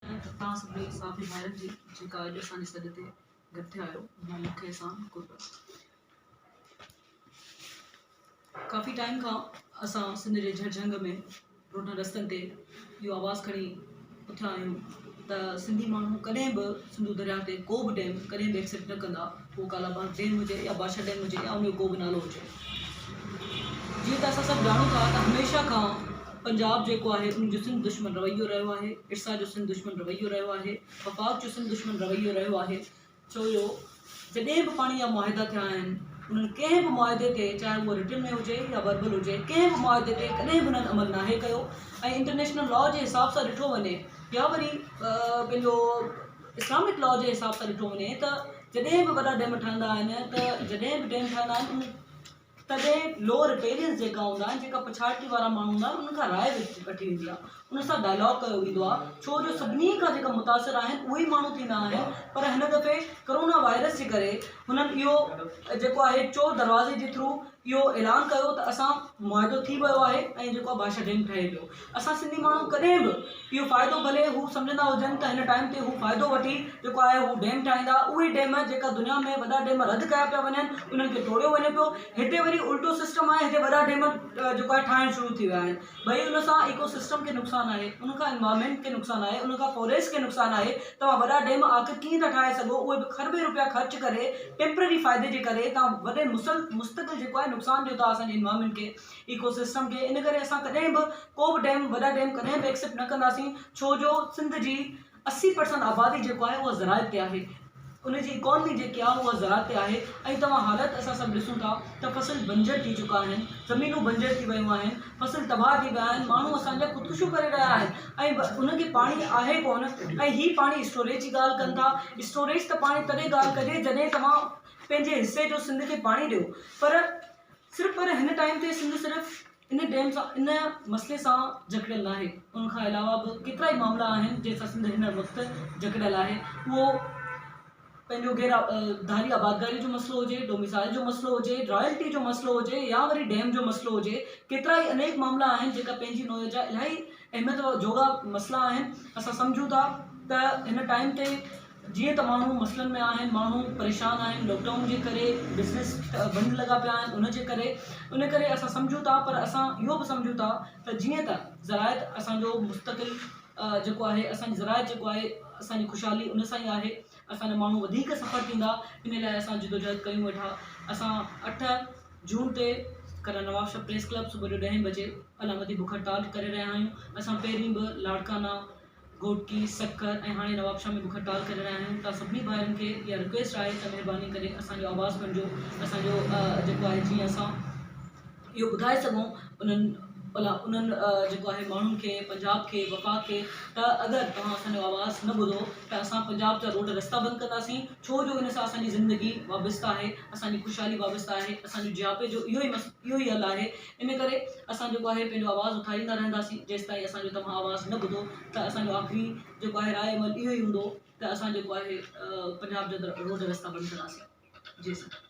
۽ توهان سڀني ساٿي ڀائرن جي جيڪا اڄ اسان جي سڏ تي گڏ ٿيا آهيو اها مک احسان قربت ڪافي ٽائيم کان اسان سنڌ جي جھڙ جھنگ ۾ روڊن رستن تي اهو آواز کڻي اٿيا آهيون ته سنڌي ماڻهو ڪڏهن به سنڌو درياهه تي ڪو به ڊيم ڪڏهن به ايڪسيپٽ نه ڪندا پوء ڪالا باغ ڊيم هجي يا بادشاهه ڊيم هجي يا ان جو ڪو به نالو هجي جيئن ته اسان سڀ ڄاڻون ٿا ته هميشه کان پنجاب جيڪو آهي ان جو سنڌ دشمن رويو رهيو آهي ارسا جو سنڌ دشمن رويو رهيو آهي وفاق جو سنڌ دشمن رويو رهيو آهي ڇو جو جڏهن به پاڻي جا معاهدا ٿيا آهن انهن ڪنهن به معاهدي تي چاهي اهو رٽن ۾ هجي يا وربل هجي ڪنهن به معاهدي تي ڪڏهن به انهن عمل ناهي ڪيو ۽ انٽرنيشنل لا جي حساب سان ڏٺو وڃي يا وري پنهنجو اسلامڪ لا جي حساب سان ڏٺو وڃي ته جڏهن به وڏا ڊيم ٺهندا آهن ته جڏهن به ڊيم ٺهندا آهن تڏهن لو رپيرينس جيڪا هوندا آهن جيڪا پڇاڙڪي وارا ماڻهو هوندا آهن انهن کان راء وٺي ويندي آهي انهن سان ڊائلاگ ڪيو ويندو آهي ڇو جو سڀني کان جيڪا متاثر آهن اهي ئي ماڻهو ٿيندا آهن پر هن دفعي ڪرونا وائرس جي ڪري هنن اهو جيڪو آهي چور دروازي جي ٿرو اهو اعلان ڪيو ته اسان معاهدو ٿي ويو آهي ۽ جيڪو آهي بادشاهه جنگ ٺهي پيو اسان سنڌي ماڻهو ڪڏهن به اهو فائدو ڀلي هو سمجهندا هجن ته هن ٽائيم تي هو فائدو وٺي جيڪو آهي هو ڊيم ٺاهيندا اهي ڊيم جيڪا دنيا ۾ وڏا ڊيم رد ڪيا پيا وڃن انهن کي ٽوڙيو وڃي پيو هتي وري الٽو سسٽم آهي هتي وڏا ڊيم جيڪو آهي ٺاهڻ شروع ٿي ويا آهن ٻئي ان سان ايڪو سسٽم کي نقصان آهي ان کان انوائرمينٽ کي نقصان آهي ان کان فوريسٽ کي نقصان آهي توهان وڏا ڊيم آخر ڪيئن ٿا ٺاهي سگهو اهي به کربين روپيا خرچ ڪري ٽيمپرري فائدي جي ڪري توهان وڏي مسل مستقل جيڪو آهي نقصان ڏيو ٿا اسان جي انوائرمينٽ کي ايڪو سسٽم کي ان ڪري اسان ڪڏهن به ڪو به ڊيم وڏا ڊيم ڪڏهن به ايڪسيپٽ نه ڪنداسين ڇو جو سنڌ جي اسي پرسنٽ آبادي جيڪو آهي اها زراعت تي آهي ان جي اڪانومي جيڪي آهي اها زراعت تي آهي ۽ توهان حالت اسان سڀ ڏسون ٿا ته فصل بنجر ٿي چڪا آهن زمينون بنجر ٿي ويون آهن فصل تباهه ٿي ويا آهن ماڻهو اسان جا خودڪشيون ڪري رهيا آهن ۽ ان کي پاڻي آهي ڪونه ۽ هي پاڻي اسٽوريج جي ڳالهه ڪن ٿا اسٽوريج ته پاڻي تڏهن ڳالهه ڪجي جڏهن توهان پنهنجي حصي جو سنڌ کي پاڻي ڏيو پر صرف پر هن ٽائيم تي سنڌ صرف ان ڊيم سان ان مسئلي سان جڪڙيل ناهي ان کان علاوه به ڪيترائي معاملا آهن جنهن سان سنڌ هن وقت جڪڙيل آهي اهو پنهنجو غير ڌاري آبادگاري جو مسئلو هجي ڊوميسائل جو مسئلو هجي رائلٽي جو مسئلو هجي يا وري ڊيم جو مسئلو هجي ڪيترائي انيڪ معاملا آهن جيڪا پنهنجي نوع جا الاهي اهميت جوڳا مسئلا آهن اسان سمجهون ٿا ته هن ٽائيم تي جيئن ته ماڻهو مسئلن ۾ آهن، ماڻهو پريشان آهن لاڪ ڊائون جي ڪري، بزنس بند لڳا پيا آهن ان جي ڪري، ان ڪري اسان سمجهون ٿا پر اسان اهو به سمجهون ٿا ته جيئن ته زراعت اسان جو مستقل جيڪو آهي اسان جي زراعت جيڪو آهي اسان جي خوشحالي ان سان ئي آهي، اسان جا ماڻهو وڌيڪ سفر ٿيندا ان لاء اسان جدوجهد ڪيون ويٺا اسان اٺ جون تي ڪره نوابشاهه پريس ڪلب صبح جو ڏهين بجي علامتي بک هڙتال ڪري رهيا آهيون، اسان پهرين به لاڙڪانا. گهوٽڪي، سکر ۽ هاڻي نوابشاهه ۾ به کٽال ڪري رهيا آهيون ته سڀني ڀائرن کي اها رڪويسٽ آهي ته مهرباني ڪري اسان جو آواز بڻجو اسان جو جيڪو آهي جيئن اسان اهو ٻڌائي سگهون انهن الا انهن جيڪو آهي ماڻهن کي پنجاب کي وفاق کي ته اگر توهان اسان جو آواز نه ٻڌو ته اسان پنجاب جا روڊ رستا بند ڪنداسين ڇو جو ان سان اسان جي زندگي وابسته آهي اسان جي خوشحالي وابسته آهي اسان جي جهاپي جو اهو ئي مس اهو ئي حل آهي ان ڪري اسان جيڪو آهي پنهنجو آواز اٿاريندا رهنداسين جيستائين اسان جو توهان آواز نه ٻڌو ته اسان جو آخري جيڪو آهي راء عمل اهو ئي هوندو ته اسان جيڪو آهي پنجاب جي اندر روڊ رستا بند ڪنداسين جي سر